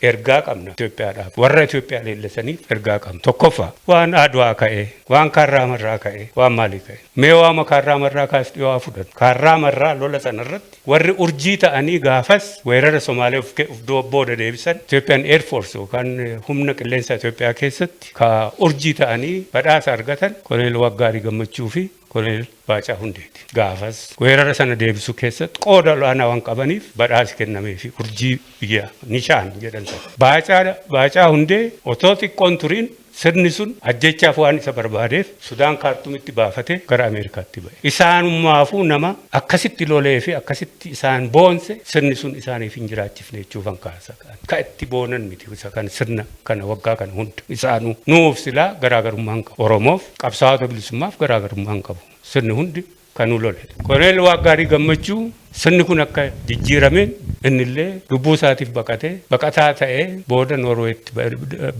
Ergaa qabna Itoophiyaadhaaf. Warra Itoophiyaa leellisaniif ergaa qabna. Tokkoffaa, waan Adwaa ka'ee, waan Kaarraa Marraa ka'ee, waan maalii ka'ee. Mee waama Kaarraa Marraa kaas dhiyoo haa fudhannu. Kaarraa Marraa lola sana irratti warri urjii ta'anii gaafas weerara Somaalee of ke of dura booda deebisan Ethiopian Air Force yookaan humna qilleensaa Itoophiyaa keessatti ka urjii ta'anii badhaasa argatan Koloneel Waaqgaarii Gammachuu fi Koloneel Baacaa Hundeeti. Gaafas weerara sana deebisuu keessatti qooda ol'aanaa waan qabaniif badhaasi kennameefi urjii biyyaa, Nishaan, jedhan sana. Baacaa, Baacaa Hundee, otoo xiqqoo hin turiin sirni sun ajjeechaaf waan isa barbaadeef Sudaan Kaartumitti baafatee gara Ameerikaatti ba'e. Isaanummaafuu nama akkasitti loleefi akkasitti isaan boonse sirni sun isaaniif hin jiraachifne jechuufan kaasa. Akka itti boonan miti isa kan sirna kana waggaa kana hunda isaanuu. Nuuf silaa garaagarummaa hin qabu. Oromoof qabsaa'ota bilisummaaf garaagarummaa hin qabu. Sirni hundi kan nu lole. Koloneel Waaqgaarii Gammachuu sirni kun akka jijjiirameen innillee lubbuu isaatiif baqatee baqataa ta'ee booda Noorweetti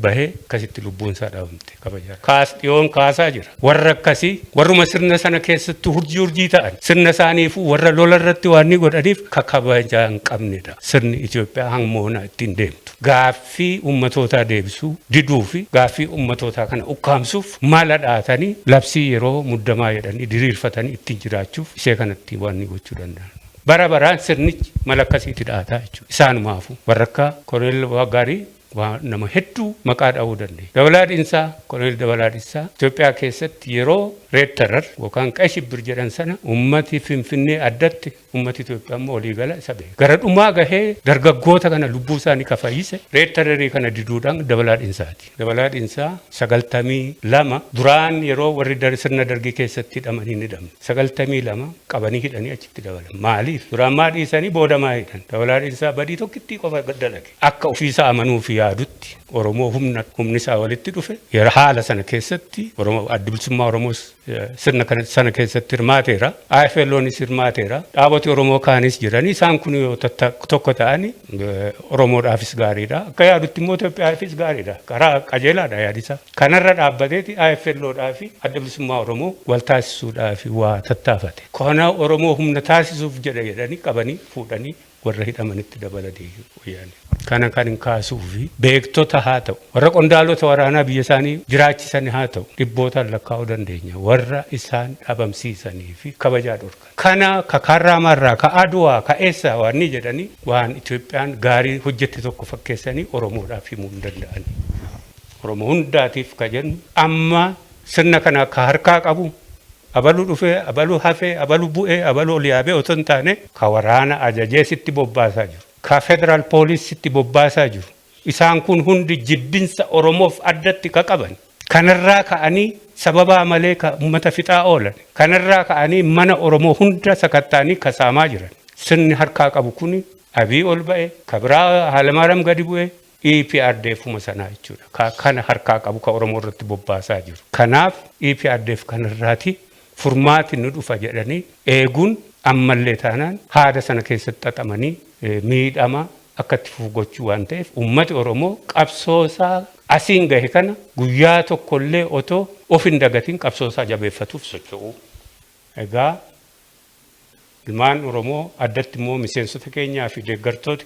bahee akkasitti lubbuun isaa dhabamte. kabaja kaas dhiyoon kaasaa jira. Warra akkasii warruma sirna sana keessatti hurjii hurjii ta'an sirna isaaniifuu warra lola irratti waan ni godhaniif ka kabajaa hin qabnedha. Sirni Itoophiyaa hamma onaa ittiin deemtu gaaffii ummatootaa deebisuu diduu fi gaaffii ummatootaa kana ukkaamsuuf mala dhahatanii labsii yeroo muddamaa jedhanii diriirfatanii ittiin jiraachuuf ishee kanatti waan ni gochuu danda'an. Bara baraan sirnichi mala akkasiitti dhahataa jechuudha. Isaanumaafuu warra akka Koloneel Abbaa Gaarii Waa nama hedduu maqaa dhahuu dandeenya. Dabalaa Dhinsaa, Koloneel Dabalaa Dhissaa, Itoophiyaa keessatti yeroo Red Terror yookaan Qay Shibbir jedhan sana uummati Finfinnee addatti uummati Itoophiyaa immoo walii gala isa beeka. Gara dhumaa gahee dargaggoota kana lubbuu isaanii ka fayyise Red Terror kana diduudhaan Dabalaa Dhinsaati. Dabalaa Dhinsaa 92 duraan yeroo warri Dar sirna Dargii keessatti hidhaman hin hidhamne. 92 qabanii hidhanii achitti dabalan. Maaliif? Duraan maa dhiisanii booda maa hidhan? Dabalaa Dhinsaa badii tokkittii qofa dalage. Akka ofiisaa amanuufi yaadutti Oromoo humna humnisaa walitti dhufe yera haala sana keessatti Oromoo Addi Bilisummaa Oromoos sirna kana sana keessatti hirmaateera. AFLOnis hirmaateera. Dhaaboti Oromoo kaanis jiranii isaan kun yoo tokko ta'ani Oromoodhaafis gaariidha. Akka yaadutti immoo Itoophiyaafis gaariidha. Karaa qajeelaadha yaadisaa. Kanarra dhaabbateeti AFLOdhaafi Adda Bilisummaa Oromoo wal taasisuudhaafi waa tattaafate. Kana Oromoo humna taasisuuf jedha jedhanii qabanii fuudhanii warra hidhamanitti dabala deebi'e wayyaaneen. Kana kanin kaasuufi beektota haata'u, warra qondaalota waraanaa biyya isaanii jiraachisani haata'u dhibbootaan lakkaa'uu dandeenya warra isaan dhabamsiisaniifi kabajaa dhorkan. Kana ka Kaarraamaarraa, ka Adwaa, ka eessaa waannii jedhanii waan Itoophiyaan gaarii hojjette tokko fakkeessanii Oromoodhaaf himuu hin danda'ani. Oromoo hundaatiif ka jennu amma Sirna kana ka harkaa qabu abalu dhufe, abalu hafe, abalu bu'e, abalu ol yaabe otoo hin taane, ka waraana ajajee sitti bobbaasaa jiru, ka Federal Police sitti bobbaasaa jiru, isaan kun hundi jibbinsa Oromoof addatti ka qaban, kanarraa ka'anii sababaa malee ka ummata fixaa oolan, kanarraa ka'anii mana Oromoo hunda sakatta'anii ka saamaa jiran, sirni harkaa qabu kuni Abiy ol ba'e, ka biraa Haalemaaram gadi bu'e, EPRDFuma sanaa jechuudha. Ka kana harkaa qabu ka Oromoo irratti bobbaasaa jiru. Kanaaf EPRDF kana irraati furmaati ni dhufa jedhanii eeguun ammallee taanaan haada sana keessatti xaxamanii miidhama akka itti fufu gochuu waan ta'eef ummati Oromoo qabsoo isaa asiin gahe kana guyyaa tokko illee otoo of hin dagatiin qabsoo isaa jabeeffatuuf socho'uu. Egaa ilmaan Oromoo addatti immoo miseensota keenyaa fi deeggartooti.